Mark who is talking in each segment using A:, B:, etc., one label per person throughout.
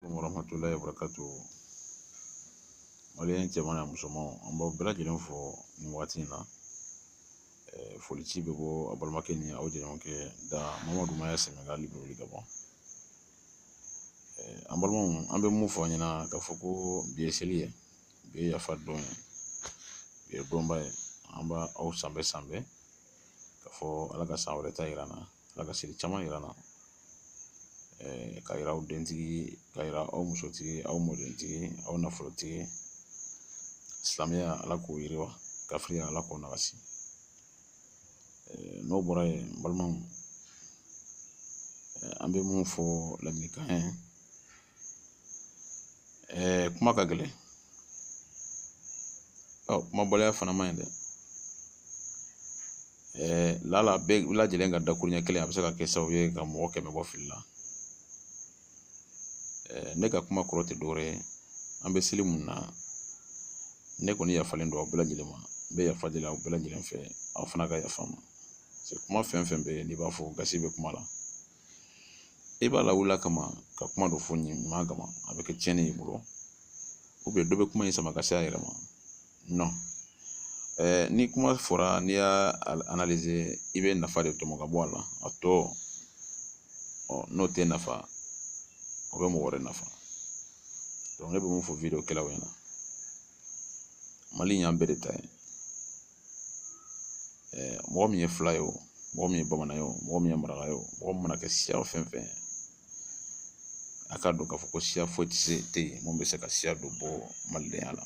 A: warahmatulahi wabarakatu maliyɛn cɛman n'a musomanw an b'aw bɛɛ lajɛlen fo nin waati in na foli ci bɛ bɔ aw balimakɛ ni aw jɛɲɔgɔnkɛ da mamadu maya sɛnɛgali liberewili gabɔn an balimaw an bɛ mun fɔ aw ɲɛna k'a fɔ ko bi ye seli ye bi ye yafa don ye bi ye donba ye an b'aw sanbɛɛ sanbɛɛ k'a fɔ ala ka san wɛrɛ ta yira an na Ala ka seli caman yira an na k'a yira aw dentigi k'a yira aw musotigi aw mɔdentigi aw nafolotigi silamɛya Ala k'o yiriwa kafiriya Ala k'o nagasi n'o bɔra yen n balimaw an bɛ mun fɔ ladilikan ye kuma ka gɛlɛn ɔ kumabaliya fana man ɲi dɛ lala bɛɛ lajɛlen ka dakuruɲɛ kelen a bɛ se ka kɛ sababu ye ka mɔgɔ kɛmɛ bɔ fili la ne ka kuma kɔrɔ tɛ dɔwɛrɛ ye an bɛ seli mun na ne kɔni yafalen don aw bɛɛ lajɛlen ma n bɛ yafa deli aw bɛɛ lajɛlen fɛ aw fana ka yafa n ma kuma fɛn fɛn bɛ yen n'i b'a fɔ gasi bɛ kuma la i b'a lawuli a kama ka kuma dɔ fɔ ɲuman kama a bɛ kɛ tiɲɛni ye i bolo dɔ bɛ kuma in sama ka se a yɛrɛ ma nɔn ni kuma fɔra n'i y'a analize i bɛ nafa de tɔmɔ ka bɔ a la a tɔ ɔ n'o t'e nafa o bɛ mɔgɔ wɛrɛ nafa dɔnki ne bɛ mun fɔ wideyo kɛlaw ɲɛna mali in y'an bɛɛ de ta ye mɔgɔ min ye fula ye o mɔgɔ min ye bamanan ye o mɔgɔ min ye maraka ye o mɔgɔ min mana kɛ siya fɛn fɛn ye a k'a dɔn k'a fɔ ko siya foyi tɛ se tɛ yen mun bɛ se ka siya dɔ bɔ malidenya la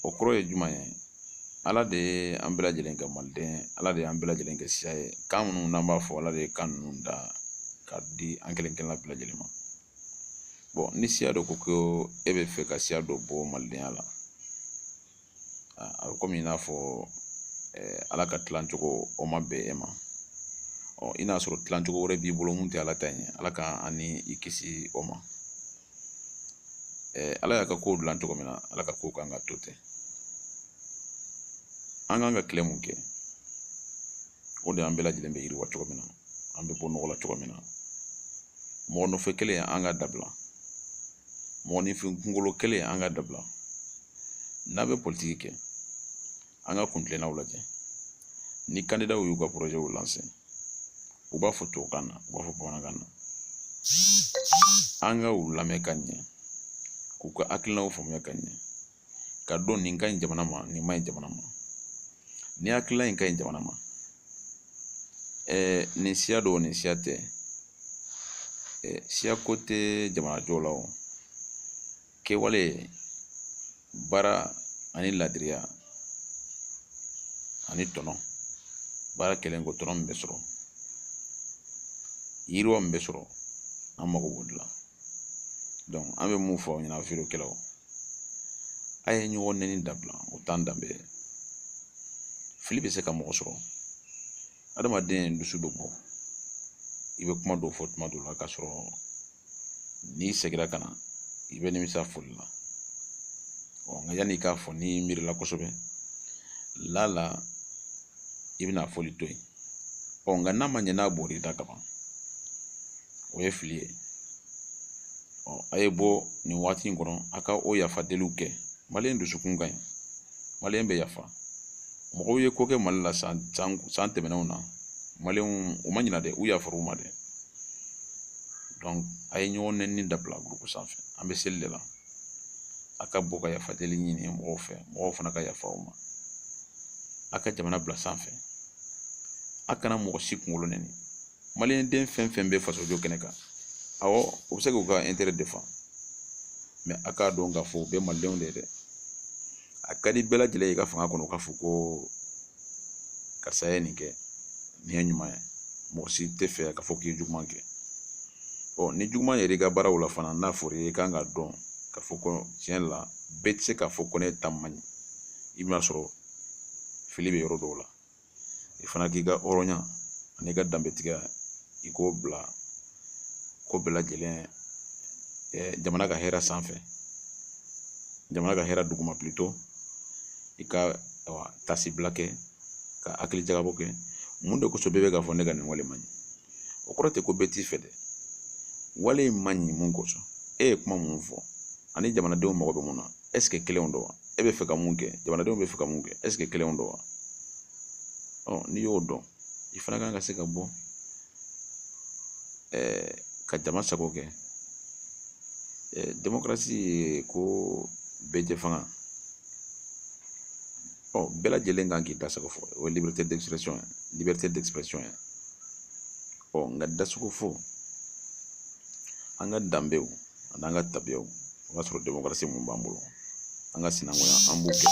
A: o kɔrɔ ye jumɛn ye ala de ye an bɛɛ lajɛlen kɛ maliden ala de y'an bɛɛ lajɛlen kɛ siya ye kan minnu n'an b'a fɔ ala de ye kan ninnu da k'a di an kelen kelenna bɛɛ lajɛlen ma bɔn ni siya dɔ ko ko e bɛ fɛ ka siya dɔ bɔ malidenya la a bɛ komi i n'a fɔ ala ka tilacogo o ma bɛn e ma ɔ i n'a sɔrɔ tilacogo wɛrɛ b'i bolo mun tɛ ala ta ye ala ka an ni i kisi o ma ala y'a ka kow dilan cogo min na ala ka kow kan ka to ten an kan ka tile mun kɛ o de an bɛɛ lajɛlen bɛ yiriwa cogo min na an bɛ bɔ nɔgɔ la cogo min na mɔgɔ nɔfɛ kɛlɛ in an k'a dabila mɔgɔninfin kunkolo kɛlɛ in an k'a dabila n'an bɛ politiki kɛ an ka kuntilennaw lajɛ ni kandidaw y'u ka porozɛw lanse u b'a fɔ tubabukan na u b'a fɔ bamanankan na an ka u lamɛn ka ɲɛ k'u ka hakilinaw faamuya ka ɲɛ ka dɔn nin ka ɲi jamana ma nin man ɲi jamana ma nin hakilila in ka ɲi jamana ma nin siya don nin siya tɛ siya ko tɛ jamana jɔ la o kɛwale baara ani ladiriya ani tɔnɔ baara kɛlen kɔ tɔnɔ min bɛ sɔrɔ yiriwa min bɛ sɔrɔ an mago b'o de la donc an bɛ mun fɔ aw ɲɛna video kɛlaw a ye ɲɔgɔn nɛni dabila o t'an danbe ye fili bɛ se ka mɔgɔ sɔrɔ adamaden dusu bɛ bɔ i bɛ kuma dɔw fɔ tuma dɔw la k'a sɔrɔ n'i segira ka na i bɛ nimisa fɔli la ɔ nka yanni i k'a fɔ n'i miirila kosɛbɛ laala i bɛna fɔli to yen ɔ nka n'a ma ɲɛ n'a bɔr'i da kaban o ye fili ye ɔ a ye bɔ nin waati in kɔnɔ a ka o yafa deliw kɛ maliyɛn dusukun ka ɲi maliyɛn bɛ yafa mɔgɔw ye ko kɛ mali la san san tɛmɛnenw na maliyɛnw u ma ɲina dɛ u yafara u ma dɛ donc a ye ɲɔgɔn nɛni dabila gurupu sanfɛ an bɛ seli de la a ka bɔ ka yafa deli ɲini mɔgɔw fɛ mɔgɔw fana ka yafa u ma a ka jamana bila sanfɛ a kana mɔgɔ si kunkolo nɛni maliyɛnden fɛn fɛn bɛ fasojo kɛnɛ kan awɔ u bɛ se k'u ka intérêt défendre mais a k'a dɔn k'a fɔ u bɛɛ malidenw de ye dɛ a ka di bɛɛ lajɛlen ye i ka fanga kɔnɔ k'a fɔ ko karisa ye nin kɛ nin ye ɲuman ye mɔgɔ si t'a fɛ k'a fɔ k'i ye juguman kɛ ɔ ni juguman yɛrɛ i ka baaraw la fana n'a fɔra i kan ka dɔn k'a fɔ ko tiɲɛ la bɛɛ tɛ se k'a fɔ ko ne ta man ɲi i bɛna sɔrɔ fili bɛ yɔrɔ dɔw la i fana k'i ka hɔrɔnya an'i ka danbetigiya i k'o bila ko bɛɛ lajɛlen jamana ka hɛrɛ sanfɛ jamana ka hɛrɛ duguma plutôt i ka tasibila kɛ ka hakili jagabɔ kɛ mun de kosɔn bɛɛ bɛ k'a fɔ ne ka nin wale man ɲi o kɔrɔ tɛ ko bɛɛ t'i fɛ dɛ wale in man ɲi mun kosɔn e ye kuma mun fɔ ani jamanadenw mago bɛ mun na ɛseke kelenw don wa e bɛ fɛ ka mun kɛ jamanadenw bɛ fɛ ka mun kɛ ɛseke kelenw don wa ɔ n'i y'o dɔn i fana kan ka se ka bɔ ɛɛ ka jama sago kɛ ɛɛ demokarasi ye ko bɛɛ jɛ fanga ɔ bɛɛ lajɛlen kan k'i da sago fɔ o ye liberté d'expression ye liberté d'expression ye ɔ nka dasago fɔ an ka danbew an'an ka tabiyaw o y'a sɔrɔ demokarasi mun b'an bolo an ka sinankunya an b'o kɛ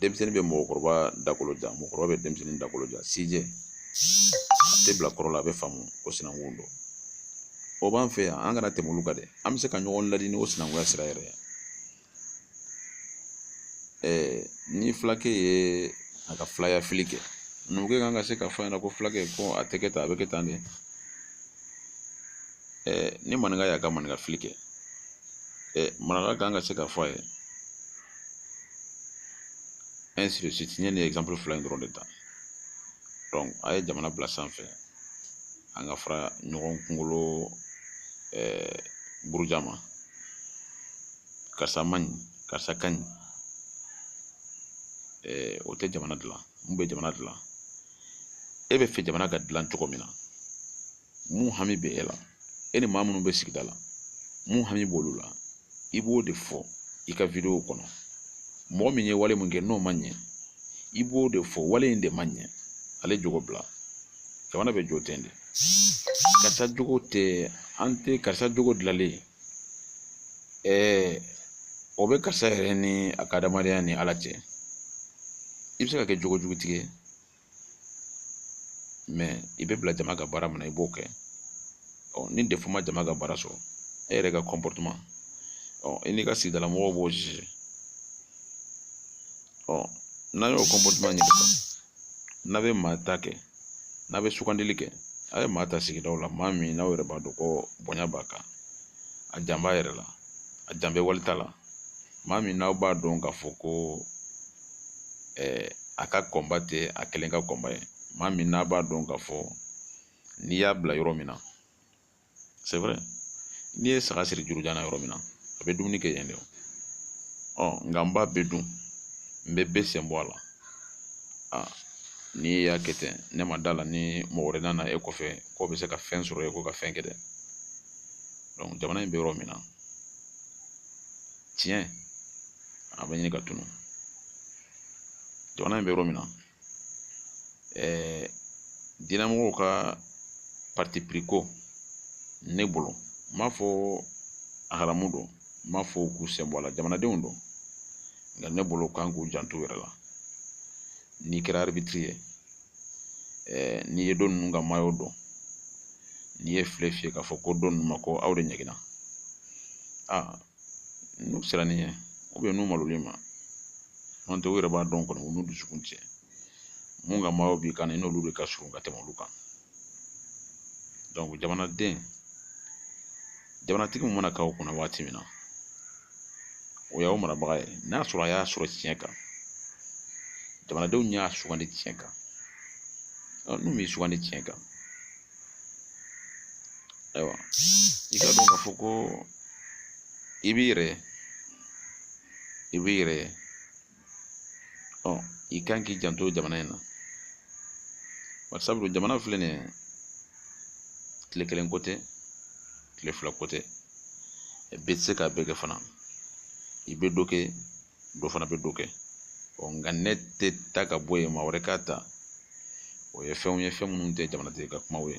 A: denmisɛnnin bɛ mɔgɔkɔrɔba dakolo ja mɔgɔkɔrɔba bɛ denmisɛnnin dakolo ja sijɛ a tɛ bila kɔrɔ la a bɛ faamu ko sinankun don o b'an fɛ yan an kana tɛmɛ olu kan dɛ an bɛ se ka ɲɔgɔn ladi ni o sinankunya sira yɛrɛ ye ni fulakɛ ye a ka filaya fili kɛ numukɛ kan ka se ka fɔ a ɲɛna ko fulakɛ ko a tɛ kɛ tan a bɛ kɛ tan de ni maninka y'a ka maninka fili kɛ maraka kan ka se ka fɔ a ye ainsi de suite n ye nin exemple fila in dɔrɔn de ta donc a ye jamana bila sanfɛ an ka fara ɲɔgɔn kunkolo buruja ma karisa man ɲi karisa ka ɲi o tɛ jamana dilan mun bɛ jamana dilan e bɛ fɛ jamana ka dilan cogo min na mun hami bɛ e la e ni maa minnu bɛ sigida la mun hami b'olu la i b'o de fɔ i ka video kɔnɔ mɔgɔ min ye wale min kɛ n'o ma ɲɛ i b'o de fɔ wale in de ma ɲɛ ale jogo bila jamana bɛ jɔ ten de karisa jogo tɛ an tɛ karisa jogo dilanlen ɛɛ o bɛ karisa yɛrɛ ni a ka adamadenya ni ala cɛ i bɛ se ka kɛ jogo jugutigi ye mais i bɛ bila jama ka baara min na i b'o kɛ ɔ ni défaut ma jama ka baara sɔrɔ e yɛrɛ ka comportement ɔ i n'i ka sigidala mɔgɔw b'o juger ɔ n'a y'o comportement ɲini sisan n'a bɛ maa ta kɛ n'a bɛ sugandili kɛ a ye maa ta sigidaw la maa min n'aw yɛrɛ b'a dɔn ko bonya b'a kan a jan b'a yɛrɛ la a jan bɛ wali ta la maa min n'aw b'a dɔn k'a fɔ ko ɛɛ a ka combat tɛ a kelen ka combat ye maa min n'a b'a dɔn k'a fɔ n'i y'a bila yɔrɔ min na c'est vrai n'i ye saga siri jurujan na yɔrɔ min na a bɛ dumuni kɛ yen de ɔ nka n b'a bɛɛ dun n bɛ bɛɛ sen bɔ a la aa n'i y'a kɛ ten ne ma d'a la ni mɔgɔ wɛrɛ nana e kɔfɛ k'o bɛ se ka fɛn sɔrɔ e kɔ ka fɛn kɛ dɛ donc jamana in bɛ yɔrɔ min na tiɲɛ a bɛ ɲini ka tunun jamana in bɛ yɔrɔ min na ɛɛ diinɛmɔgɔw ka parti pris ko ne bolo n m'a fɔ a haramu don n m'a fɔ k'u sen bɔ a la jamanadenw don nka ne bolo kan k'u janto yɛrɛ la n'i kɛra arbitre ye ɛɛ n'i ye dɔ ninnu ka maillot don n'i ye file fiyɛ k'a fɔ ko dɔ ninnu ma ko aw de ɲɛgɛnna aa n'u siranna i ɲɛ n'u malola i ma n'o tɛ u yɛrɛ b'a dɔn kɔni u n'u dusukun cɛ mun ka maillot b'i kan i n'olu de ka surun ka tɛmɛ olu kan jamanaden jamanatigi min mana k'aw kunna waati min na o y'aw marabaga ye n'a sɔrɔ a y'a sɔrɔ tiɲɛ kan jamanadenw y'a sugandi tiɲɛ kan n'u m'i sugandi tiɲɛ kan ayiwa i k'a dɔn k'a fɔ ko i b'i yɛrɛ i b'i yɛrɛ ɔ i kan k'i janto jamana in na bari sabu jamana filɛ nin ye tile kelen ko tɛ tile fila ko tɛ bɛɛ tɛ se k'a bɛɛ kɛ fana i bɛ dɔ kɛ dɔ fana bɛ dɔ kɛ ɔ nka ne tɛ ta ka bɔ yen maa wɛrɛ k'a ta o ye fɛnw ye fɛn minnu tɛ jamanatigi ka kumaw ye